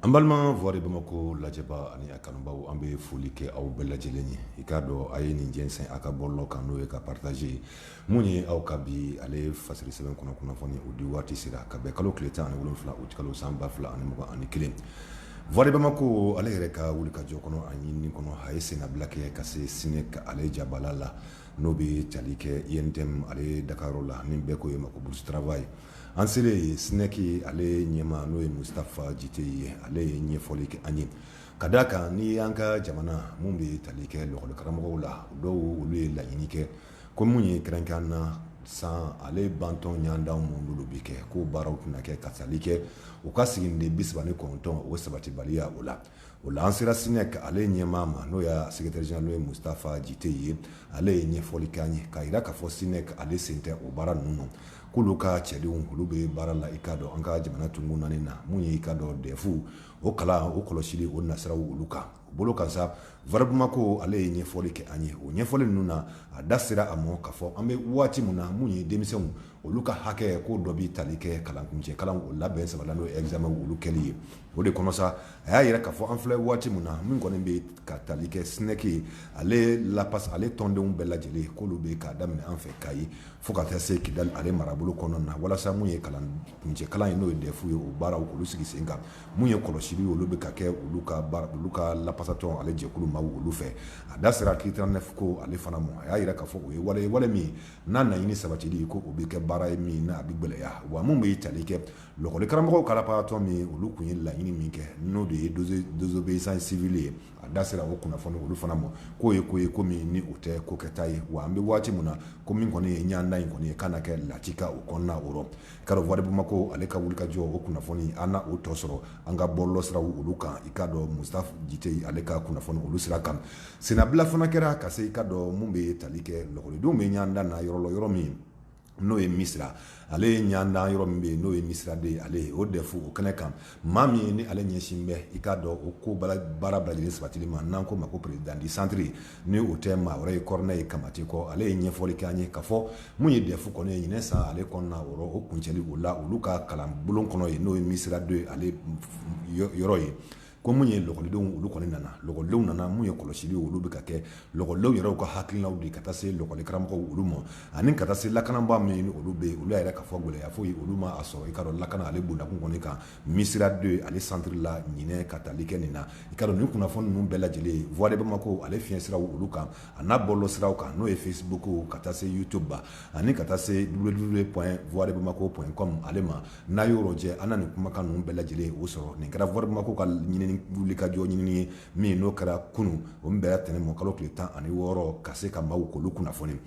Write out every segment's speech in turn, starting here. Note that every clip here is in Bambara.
An balima voix de Bamako lajɛbaa ani a kanubaw an bɛ foli kɛ aw bɛɛ lajɛlen ye i k'a dɔn a ye nin jɛnsɛn a ka bɔlɔlɔ kan n'o ye ka partager mun ye aw ka bi ale fasiri sɛbɛn kɔnɔ kunnafoni o di waati sera ka bɛn kalo tile tan ani wolonwula utikalo san ba fila ani mugan ani kelen voix de Bamako ale yɛrɛ ka wuli ka jɔ kɔnɔ a ɲinini kɔnɔ a ye senbila kɛ ka se SNEC ale jabala la n'o bɛ tali kɛ UNTM ale dagayɔrɔ la ni bɛɛ ko yen ma ko Bourse du travail An selen yen SNEC ale ɲɛmaa n'o ye Mustapha Djitteye ye, ale ye ɲɛfɔli kɛ an ye, ka d'a kan ni an ka jamana mun bɛ tali kɛ lakɔli karamɔgɔw la, dɔw olu ye laɲini kɛ ko min ye kɛrɛnkɛrɛnnenya la san ale bantɔ ɲɔgɔndanw minnu n'olu bɛ kɛ k'o baaraw tɛna kɛ ka tali kɛ u ka siginiden 39 o sabatibaliya o la, o la an sera SNEC ale ɲɛmaa ma n'o y'a secrétaire général ye Mustapha Djitteye ye, ale ye ɲɛfɔli kɛ an ye k'a yira k'a fɔ SNEC ale sen tɛ o baara ninnu na. k'olu ka cɛdenw olu bɛ baara la i k'a dɔn an ka jamana tonkun naani na mun ye i k'a dɔn DEF o kalan o kɔlɔsili o nasiraw olu kan bolo kan sa voix de Bamako ale ye ɲɛfɔli kɛ an ye o ɲɛfɔli ninnu na a da sera a ma k'a fɔ an bɛ waati min na mun ye denmisɛnw olu ka hakɛ ko dɔ bɛ tali kɛ kalan kuncɛ kalan o labɛn saba la n'o ye examen olu kɛli ye o de kɔnɔ sa a y'a yira k'a fɔ an filɛ waati min na min kɔni bɛ ka tali kɛ SNEC ale la ale tɔndenw bɛɛ lajɛlen k'olu bɛ k'a daminɛ an fɛ Kayi fo ka taa se Kidali ale marabolo kɔnɔna na walasa mun ye kalan kuncɛ kalan ye n'o ye DEF ye o baaraw olu sigi sen kan mun ye kɔlɔsili ye olu bɛ ka kɛ olu ka lapasatɔn ale jɛkulu maaw olu fɛ a da sera article 39 ko ale fana mɔ a y'a yira k'a fɔ o ye wale ye wale min n'a naɲini sabatili ko o bɛ kɛ baara ye min n'a bɛ gɛlɛya wa mun bɛ tali kɛ lɔgɔli karamɔgɔw ka lapasatɔn min olu tun ye laɲini min kɛ n'o de ye désobéissance civile ye a da sera o kunnafoni olu fana ma k'o ye ko ye ko min ni o tɛ ko kɛta ye wa an bɛ waati min na ko min kɔni ye ɲanda in kɔni ye ka na kɛ latika o kɔnɔna o rɔ i k'a dɔn voix de Bamako ale ka wuli ka jɔ o kunnafoni a na o tɔ sɔrɔ an ka bɔlɔlɔ siraw olu kan i k'a dɔn Mustapha Djitteye ale ka kunnafoni olu sira kan senbila fana kɛra ka se i k'a dɔn mun bɛ tali kɛ lakɔlidenw bɛ ɲanda na yɔrɔ yɔrɔ min n'o ye Misira ale ye ɲandan yɔrɔ min bɛ yen n'o ye Misira deux ye ale ye o DEF o kɛnɛ kan maa min ye ni ale ɲɛsin bɛ i k'a dɔn o ko baara bɛɛ lajɛlen sabatili ma n'an ko ma ko président du centre ni o tɛ maa wɛrɛ ye Corneille Kamate kɔ ale ye ɲɛfɔli kɛ an ye k'a fɔ mun ye DEF kɔni ye ɲinɛ san ale kɔnɔna o rɔ o kuncɛli o la olu ka kalanbulon kɔnɔ ye n'o ye Misira deux ye ale yɔrɔ ye ko mun ye lɔkɔlidenw olu kɔni nana lɔkɔlidenw nana mun ye kɔlɔsili ye olu bɛ ka kɛ lɔkɔlidenw yɛrɛw ka hakilinaw de ka taa se lɔkɔlikaramɔgɔw olu ma ani ka taa se lakanabaa min ni olu bɛ yen olu y'a yira k'a fɔ gɛlɛya foyi olu ma a sɔrɔ i k'a dɔn lakana ale bundakun kɔni kan Misira deux ale centre la ɲinɛ ka tali kɛ nin na i k'a dɔn nin kunnafoni ninnu bɛɛ lajɛlen voix de bamako ale fiɲɛ siraw olu kan a n'a bɔlɔlɔ siraw kan n'o ye facebook ka taa se youtube ma ani ka taa se www point voix de bamako point com ale ma n'a y'o rɔjɛ an na nin kumakan ninnu bɛɛ lajɛlen o sɔrɔ nin kɛra Voix de Bamako ka ɲinini wulikajɔ ɲinini ye min n'o kɛra kunun o min bɛnna tɛnɛn ma kalo tile tan ani wɔɔrɔ ka se ka maaw k'olu kunnafoni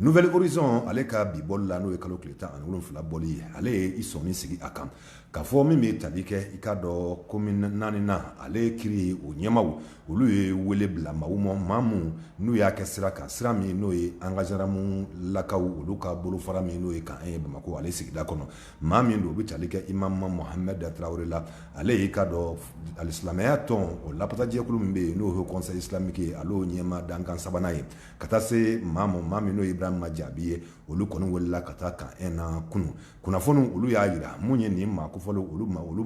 Nouvel Horizon ale ka bi bɔli la n'o ye kalo tile tan ani wolonwula bɔli ye ale ye i sɔnni sigi a kan k'a fɔ min bɛ tali kɛ i k'a dɔn komini naaninan ale kiiri o ɲɛmaw olu ye wele bila maaw ma maa min n'u y'a kɛ sira kan sira min n'o ye an ka zandaramu lakaw olu ka bolo fara min n'o ye Camp un ye bamakɔ ale sigida kɔnɔ maa min don o bɛ tali kɛ Imam Mohamed Tarawele la ale y'i k'a dɔn alisilamɛya tɔn o lapasajɛkulu min bɛ yen n'o ye conseil islamique ye ale y'o ɲɛmaa dankan sabanan ye ka taa se maa ma maa min n'o ye Ibrahima Jaabi ye olu kɔni welela ka taa Camp un na kunun kunnafoniw olu y'a jira mun ye nin maa kofɔlen olu olu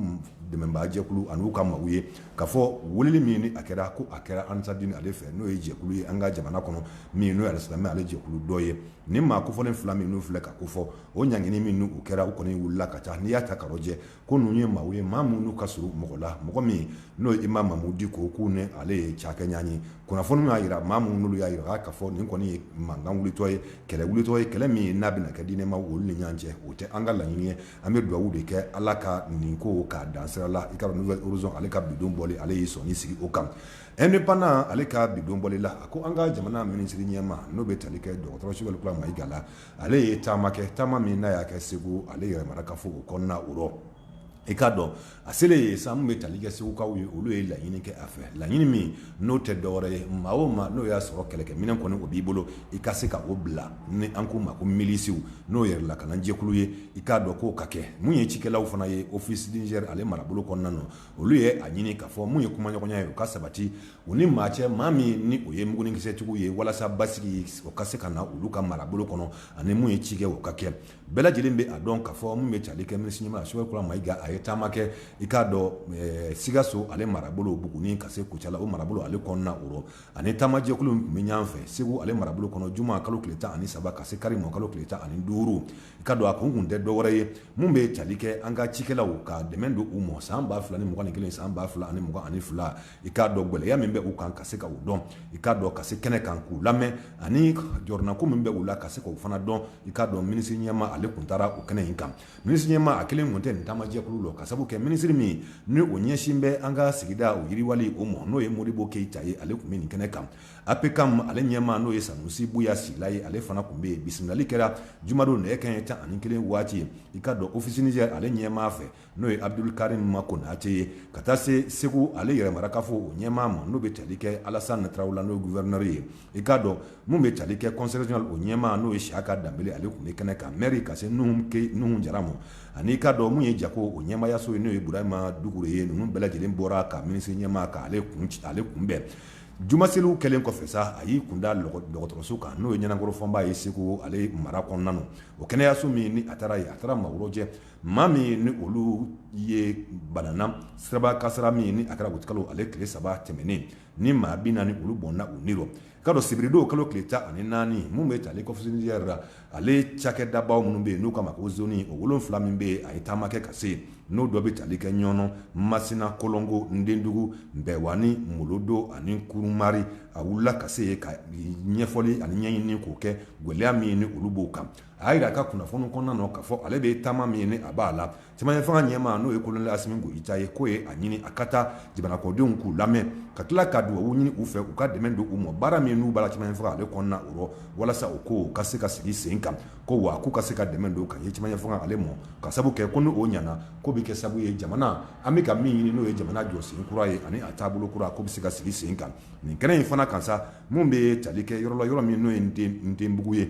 dɛmɛbaa jɛkulu an'u ka maaw ye k'a fɔ weleli min ni a kɛra ko a kɛra Ansardine ale fɛ n'o ye jɛkulu ye an ka jamana kɔnɔ min n'o ye alisilamɛ ale jɛkulu dɔ ye nin maa kofɔlen fila min n'u filɛ ka kofɔ o ɲangini min n'u kɛra u kɔni wulila ka taa n'i y'a ta k'a lajɛ ko ninnu ye maaw ye maa minnu ka surun mɔgɔ la mɔgɔ min n'o ye Imam Mahmoud Dicko k'u ni ale ye caakɛɲɔgɔn ye kunnafoni y'a jira maa min n'olu y'a jira k'a fɔ nin kɔni ye mankan wulitɔ ye kɛlɛ wulitɔ ye kɛlɛ min ye n'a bɛna kɛ diinɛmaa olu ni ɲɔgɔn cɛ o tɛ an ka laɲini ye an bɛ dugawu de kɛ ala ka nin ko k'a dan sira la i k'a dɔn Nouvel Horizon ale ka bidon bɔli ale y'i sɔnni sigi o kan Indépendant ale ka bidon bɔli la a ko an ka jamana minisiri ɲɛma n'o bɛ tali kɛ dɔgɔtɔrɔ Sogɛli Kokala Mayiga la ale ye taama kɛ taama min n'a y'a kɛ segu ale yɛrɛ mara kafo o kɔnɔna o rɔ i k'a dɔn a selen yen sa mun bɛ tali kɛ segukaw ye olu ye laɲini kɛ a fɛ laɲini min n'o tɛ dɔwɛrɛ ye maa o maa n'o y'a sɔrɔ kɛlɛkɛminɛn kɔni o b'i bolo i ka se ka o bila ni an k'o ma ko milisiw n'o yɛrɛlakana jɛkulu ye i k'a dɔn k'o ka kɛ mun ye cikɛlaw fana ye Office du Niger ale marabolo kɔnɔna na olu ye a ɲini k'a fɔ mun ye kumaɲɔgɔnya ye o ka sabati U ni maa cɛ maa min ni o ye mugunikisɛtigiw ye walasa basigi o ka se ka na olu ka marabolo kɔnɔ ani mun ye cikɛ o ka kɛ bɛɛ lajɛlen bɛ a dɔn k'a fɔ mun bɛ tali kɛ minisiri ɲɛma Sogɛli Kokala Mayiga a ye taama kɛ i k'a dɔn sikaso ale marabolo Buguni ka se Kucala o marabolo ale kɔnɔna o ani taamajɛkulu min tun bɛ ɲɔgɔn fɛ segu ale marabolo kɔnɔ juma kalo tile tan ani saba ka se kari ma kalo tile tan ani duuru i k'a dɔn a kun tun tɛ dɔwɛrɛ ye mun bɛ tali kɛ an ka cikɛlaw ka dɛmɛ don u ma san ba fila ni mugan ni kelen san ba fila ani mugan ani fila i k'a dɔn gɛlɛya min bɛ u kan ka se ka u dɔn i k'a dɔn ka se kɛnɛ kan k'u lamɛn ani jɔrɔnako min bɛ u la ka se k'u fana dɔn i k'a dɔn minisiri ɲɛma ale tun taara o kɛnɛ in kan minisiri ɲɛmaa a kelen kun tɛ nin taamajɛkulu la ka sababu kɛ minisiri min ni o ɲɛsin bɛ an ka sigida o yiriwali o ma n'o ye Modibo Keyita ye ale tun bɛ nin kɛnɛ kan APCAM ale ɲɛma n'o ye Sanusi Buya Sila ye ale fana tun bɛ yen bisimilali kɛra jumadon nɛgɛ kanɲɛ tan ani kelen waati ye i k'a dɔn Office Niger ale ɲɛmaa fɛ N'o ye Abudulu karim ma konate ye ka taa se segu ale yɛrɛ mara kafo o ɲɛmaa ma n'o bɛ tali kɛ Alasani Tarawele la n'o ye guvɛrinɛri ye i k'a dɔn min bɛ tali kɛ kɔnsɛyi rezɔnali o ɲɛmaa n'o ye Siyaka Danbele ale tun bɛ kɛnɛ kan mɛri ka se Nuhun Jara ma ani'i k'a dɔn min ye jago o ɲɛmayaso ye n'o ye Burama Dukure ye ninnu bɛɛ lajɛlen bɔra ka minisiri ɲɛmaa ka ale kunbɛn juma seli kɛlen kɔfɛ sa a y'i kunda dɔgɔtɔrɔso kan n'o ye Ɲanankoro Fɔnba ye segu ale mara kɔnɔna na o kɛnɛyaso min ni a taara yen a taara maaw rɔjɛ Maa min ni olu ye banana siraba kasara min ni a kɛra uti kalo ale tile saba tɛmɛnen ni maa bi naani olu bɔnna u ni rɔ ka dɔn sibiridon kalo tile tan ani naani min bɛ tali k'ɔfisi nizɛri la ale cakɛdabaw minnu bɛ yen n'u k'a ma ko zoni o wolonwula min bɛ yen a ye taama kɛ ka se yen n'o dɔ bɛ taali kɛ Ɲɔnɔ Masina Kolongo Ndendugu Nbɛwani Molodo ani Kurumari a wulila ka se ka ɲɛfɔli ani ɲɛɲini k'o kɛ gɛlɛya min ni olu b'o kan a jira a ka kunnafoni kɔnɔna na k'a fɔ ale bɛ taama min ye ni a b'a la cɛmancɛ fanga ɲɛmaa n'o ye koloneli Asimi Goyita ye k'o ye a ɲini a ka taa jamanakɔdenw k'u lamɛn ka tila ka dugawu ɲini u fɛ u ka dɛmɛ don u ma baara min n'u b'a la cɛmancɛ fanga ale kɔnɔna o rɔ walasa o ko ka se ka sigi sen kan ko wa k'u ka se ka dɛmɛ don ka ye cɛmancɛ fanga ale mɔ ka sabu kɛ ko ni o ɲana ko bɛ kɛ sabu ye jamana an bɛ ka min ɲini n'o ye jamana jɔ sen kura ye ani a taabolo kura ko bɛ se ka sigi sen kan nin kɛnɛ in fana kan sa min bɛ tali kɛ yɔrɔ la yɔrɔ min n'o ye Ndenbugu ye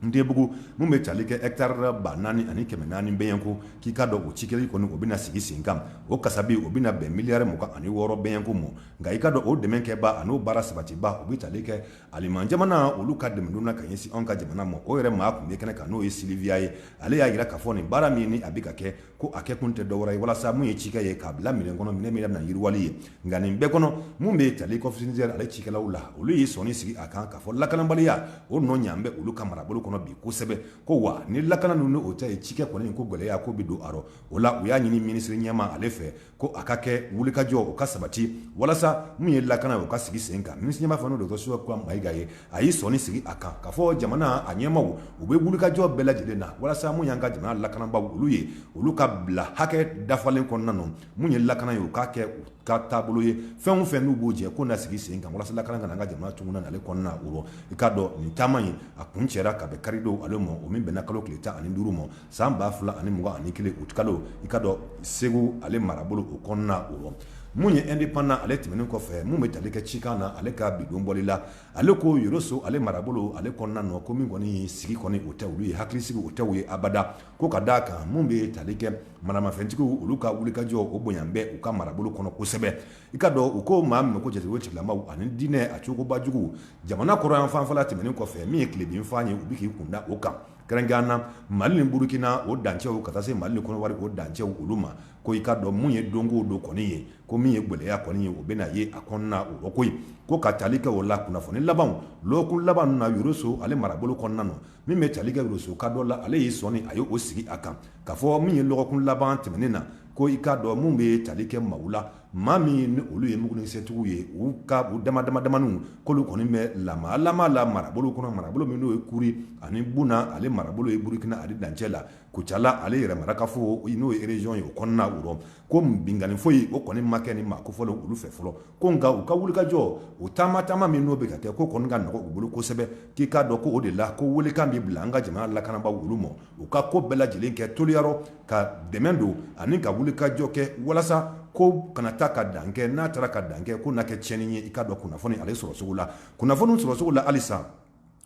Ndenbugu min bɛ taali kɛ ɛkitari ba naani ani kɛmɛ naani bɛɲɛko k'i k'a dɔn o cikɛli kɔni o bɛna sigi sen kan o kasabi o bɛna bɛn miliyari mugan ani wɔɔrɔ bɛɲɛko ma nka i k'a dɔn o dɛmɛkɛba ani'o baara sabatiba o bɛ taali kɛ Aliman jamana olu ka dɛmɛdon na ka ɲɛsin an ka jamana ma o yɛrɛ maa tun bɛ kɛnɛ kan n'o ye Siliviya ye ale y'a jira k'a fɔ nin baara min ye ni a bɛ ka kɛ ko a kɛ kun tɛ dɔ wɛrɛ ye walasa min ye cikɛ ye k'a bila minɛn kɔnɔ minɛn min n'a bɛna yiriwali ye nka nin bɛɛ kɔnɔ min bɛ tali k'ɔfisi nizɛri ale cikɛlaw la olu y'i sɔnni sigi a kan k'a fɔ lakanabaliya o nɔ ɲan bɛ olu ka marabolo kɔnɔ bi kosɛbɛ ko wa ni lakana ninnu o tɛ yen cikɛ kɔni ko gɛlɛya ko bɛ don a rɔ o la u y'a ɲini minisiri ɲɛma ale fɛ ko a ka kɛ wulikajɔ o ka sabati walasa min ye lakana o ka sigi sen kan minisiri ɲɛma fana dɔgɔtɔrɔ Sogɛli Kokala Mayiga ye a y'i sɔnni sigi a kan k'a fɔ jamana a ɲɛmaw u bɛ wulikajɔ bɛɛ lajɛlen na walasa min y'an ka jamana lakanabaw olu ye olu ka bila hakɛ dafalen kɔnɔna na min ye lakana ye u k'a kɛ u ka taabolo ye fɛn o fɛn n'u b'o jɛ ko na sigi sen kan walasa lakana ka na an ka jamana tugun ale kɔnɔna o rɔ i k'a dɔn nin taama in a kuncɛra ka bɛn karidon ale ma o min bɛnna kalo tile tan ani duuru ma San ba fila ani mugan ani kelen uti kalo i k'a dɔn segu ale marabolo o kɔnɔna o rɔ min ye ɛndepandan ale tɛmɛnen kɔfɛ min bɛ tali kɛ cikan na ale ka bidon bɔli la ale ko Yɔrɔso ale marabolo ale kɔnɔna nɔ ko min kɔni sigi kɔni o tɛ olu ye hakilisigi o tɛ u ye abada ko ka da a kan min bɛ tali kɛ maramafɛntigiw olu ka wulikajɔ o bonya bɛ u ka marabolo kɔnɔ kosɛbɛ i k'a dɔn u ko maa min ko jatigɛ tigilamaw ani diinɛ a cogobajugu jamana kɔrɔn yanfan fɛla tɛmɛnen kɔfɛ min ye tilebinfan ye u bɛ k'i kunda o kan Kɛrɛnkɛrɛnnen na mali ni burukina o dancɛw ka taa se mali ni kɔnɔwari o dancɛw olu ma ko i ka dɔn min ye don o don kɔni ye ko min ye gwɛlɛya kɔni ye o bɛna ye a kɔnɔna o rɔ ko ye ko ka taali kɛ o la kunnafoni labanw lɔgɔkun laban na yoroso ale marabolo kɔnɔna na min bɛ taali kɛ yoroso ka dɔ la ale y'i sɔnni a ye o sigi a kan k'a fɔ min ye lɔgɔkun laban tɛmɛnen na ko i ka dɔn min bɛ taali kɛ mawu la maa min ni olu ye mugunikisɛtigiw ye u ka u damadamaniw k'olu kɔni bɛ lamalama la marabolo kɔnɔ marabolo min n'o ye kuri ani buna ale marabolo ye burukina ale dancɛ la kucala ale yɛrɛ marakafo n'o ye région ye o kɔnɔna o rɔ ko binkanni foyi o kɔni ma kɛ nin maa kofɔlen olu fɛ fɔlɔ ko nka u ka wulikajɔ o taama taama min n'o bɛ ka kɛ ko kɔni ka nɔgɔ u bolo kosɛbɛ k'i k'a dɔn ko o de la ko welekan bɛ bila an ka jamana lakanabaaw olu ma u ka ko bɛɛ lajɛlen kɛ toliya rɔ ka dɛmɛ don ani ka wulikajɔ kɛ walasa ko kana taa ka dan kɛ n'a taara ka dan kɛ k'o na kɛ tiɲɛni ye i ka dɔn kunnafoni ale sɔrɔcogo la kunnafoni sɔrɔcogo la halisa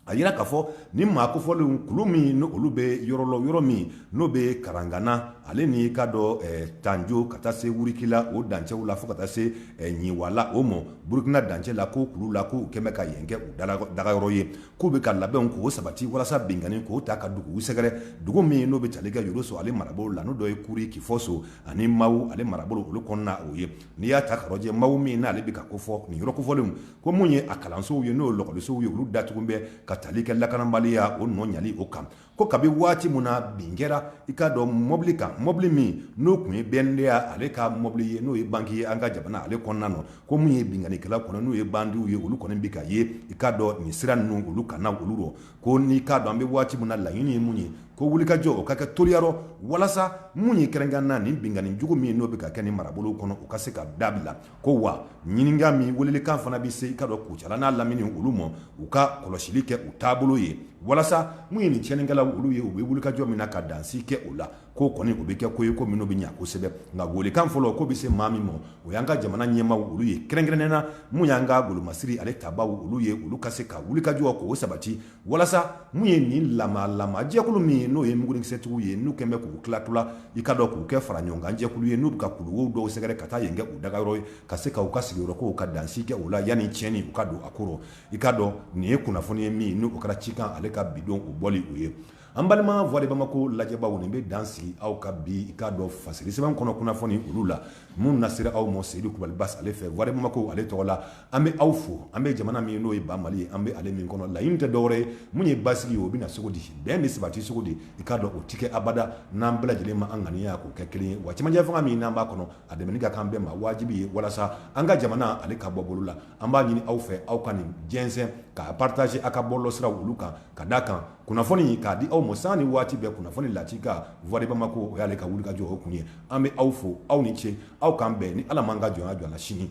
a yira k'a fɔ nin maa kofɔlenw kulu min n'olu bɛ yɔrɔ la yɔrɔ min n'o bɛ karangana ale n'i ka dɔn tanjo ka taa se wurikila o dancɛw la fo ka taa se ɲiwala o ma burukina dancɛ la ko kulu la k'u kɛlen bɛ ka yen kɛ u dagayɔrɔ ye k'u bɛ ka labɛnw k'o sabati walasa binkanni k'o taa ka duguw sɛgɛrɛ dugu min n'o bɛ tali kɛ yoroso ale marabolo la n'o dɔ ye kuri kifɔso ani mawu ale marabolo olu kɔnɔna o ye n'i y'a ta k'a rɔjɛ mawu min n'ale bɛ ka kofɔ nin yɔrɔ kofɔlenw ko min ye a kalansow ye n'o lakɔlisow ye olu datugu bɛ ka tali kɛ lakanabaliya o nɔ ɲali o kan ko kabi waati min na bin kɛra i k'a dɔn mɔbili kan mɔbili min n'o tun ye BNDA ale ka mɔbili ye n'o ye banki ye an ka jamana ale kɔnɔna na ko min ye binkannikɛla kɔnɔ n'u ye bandiw ye olu kɔni bɛ ka ye i k'a dɔn nin sira ninnu olu kan na olu rɔ ko n'i k'a dɔn an bɛ waati min na laɲini ye mun ye ko wulikajɔ o ka kɛ toliya rɔ walasa min ye kɛrɛnkɛrɛnnen na nin binkanni jugu min n'o bɛ ka kɛ nin marabolow kɔnɔ u ka se ka dabila ko wa ɲininka min welelikan fana bɛ se i ka dɔn kucala n'a lamini olu ma u ka kɔlɔsili kɛ u taabolo ye walasa min ye nin tiɲɛnikɛlaw olu ye u bɛ wulikajɔ min na ka dansi kɛ o la k'o kɔni o bɛ kɛ ko ye ko minnu bɛ ɲɛ kosɛbɛ nka welekan fɔlɔ ko bɛ se maa min ma o y'an ka jamana ɲɛmaaw olu ye kɛrɛnkɛrɛnnen na min y'an ka golomasiri ale tabaaw olu ye olu ka se ka wulikajɔ k'o sabati walasa min ye nin lamalama jɛkulu min ye n'o ye mugunikisɛtigiw ye n'u kɛlen bɛ k'u tilatila i ka dɔn k'u kɛ faraɲɔgɔnkan jɛkulu ye n'u bɛ ka kuluwo dɔw sɛgɛrɛ ka taa yen kɛ u dagayɔrɔ ye ka se k'u ka sigiyɔrɔko ka dansi kɛ o la yanni tiɲɛni u ka don a ko rɔ i ka dɔn nin ye kunnafoni ye min n'o kɛra cikan ale ka bi don o bɔli o ye An balima voix de bamako lajɛbaaw nin bɛ dan sigi aw ka bi i k'a dɔn fasiri sɛbɛn kɔnɔ kunnafoni olu la min nasera aw ma Seyidu Kulubali Basi ale fɛ voix de bamako ale tɔgɔ la an bɛ aw fo an bɛ jamana min n'o ye ba Mali ye an bɛ ale min kɔnɔ laɲini tɛ dɔwɛrɛ ye mun ye basigi ye o bɛ na cogo di bɛn bɛ sabati cogo di i k'a dɔn o tɛ kɛ abada n'an bɛɛ lajɛlen ma an ŋaniya k'o kɛ kelen ye wa cɛmancɛ fanga min n'an b'a kɔnɔ a dɛmɛni ka k'an bɛɛ ma wajibi ye walasa an ka jamana ale ka bɔ bolo la an b'a ɲini aw fɛ aw ka nin jɛnsɛn k'a partager aw ka bɔlɔlɔsiraw olu kan ka d'a kan Kunnafoni k'a di aw ma sanga ni waati bɛɛ kunnafoni lakika Voix de Bamako o y'ale ka wulikajɔ o kun ye an bɛ aw fo aw ni ce aw k'an bɛn ni ala m'an ka jɔnya jɔ an na sini